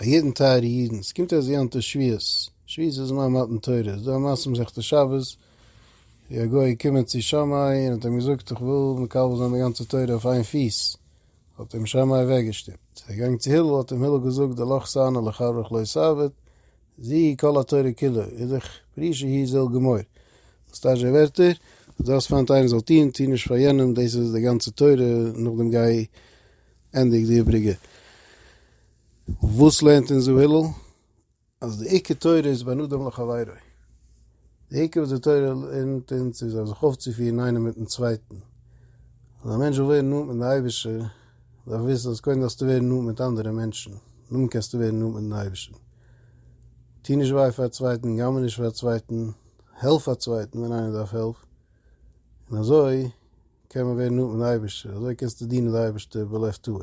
א יעדן טייערע אידן עס קומט אזוי יום טוב שביעות שביעות איז זמן מתן תורה איז דא א מעשה מסכת שבת ווי א גוי איז געקומען צו שמאי און האט אים געזאגט איך וויל מקבל זיין די גאנצע תורה אויף איין פיס האט אים שמאי אוועק געשטופט ער איז געגאנגען צו הלל האט אים הלל געזאגט די לכה סנה לחברך לא סבת זי כל התורה כולה איז דאך פרי שהיא זל גמור. דאס טייטש די ווערטער אז דו האסט פיינט איינער זאל טון, טו נישט פאר יענעם, דאס איז די גאנצע תורה, נאכדעם גיי ענדיג די איבריגע. וואס לערנט אונז ר' הלל? אז די עיקר תורה איז בין אדם לחבירו. די עיקר וואס די תורה לערנט אונז איז זיך אויפצופירן איינער מיטן צווייטן. אז א מענטש וויל ווערן נאנט מיט די אייבערשטער, דארף ער וויסן אז קודם דארפסטו ווערן נאנט מיט אנדערע מענטשן, נאכדעם קענסטו ווערן נאנט מיטן אייבערשטן. טו נישט וויי פאר א צווייטן, גנב'ע נישט פאר א צווייטן, העלף א צווייטן ווען איינער דארף העלף, און אזוי קען מען ווערן נאנט מיטן אייבערשטער, אזוי קענסטו דינען די אייבערשטער בלב טהור.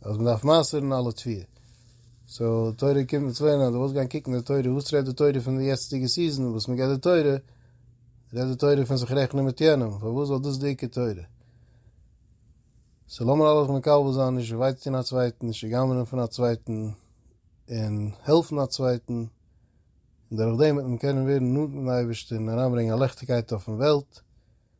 אז מען דארף מייסטערן אלע תפי'. סאו די תורה קומט מיט צוויי נאר דו ווילסט גיין קוקן די תורה וואס רעדט די תורה פון די יעצטיגע סיזען וואס מען געבט די תורה, רעדט די תורה פון זיך רעכענען מיט יענעם, פארוואס זאל דאס די עיקר תורה? סאו לאמיר אלעס מקבל זיין נישט וויי צו טון א צווייטן, נישט צוגנב'נען פון א צווייטן, און העלפן א צווייטן, און דורך דעם וועט מען קענען ווערן נאנט מיטן אייבערשטען און אריינברענגען א ליכטיגקייט אויפן וועלט,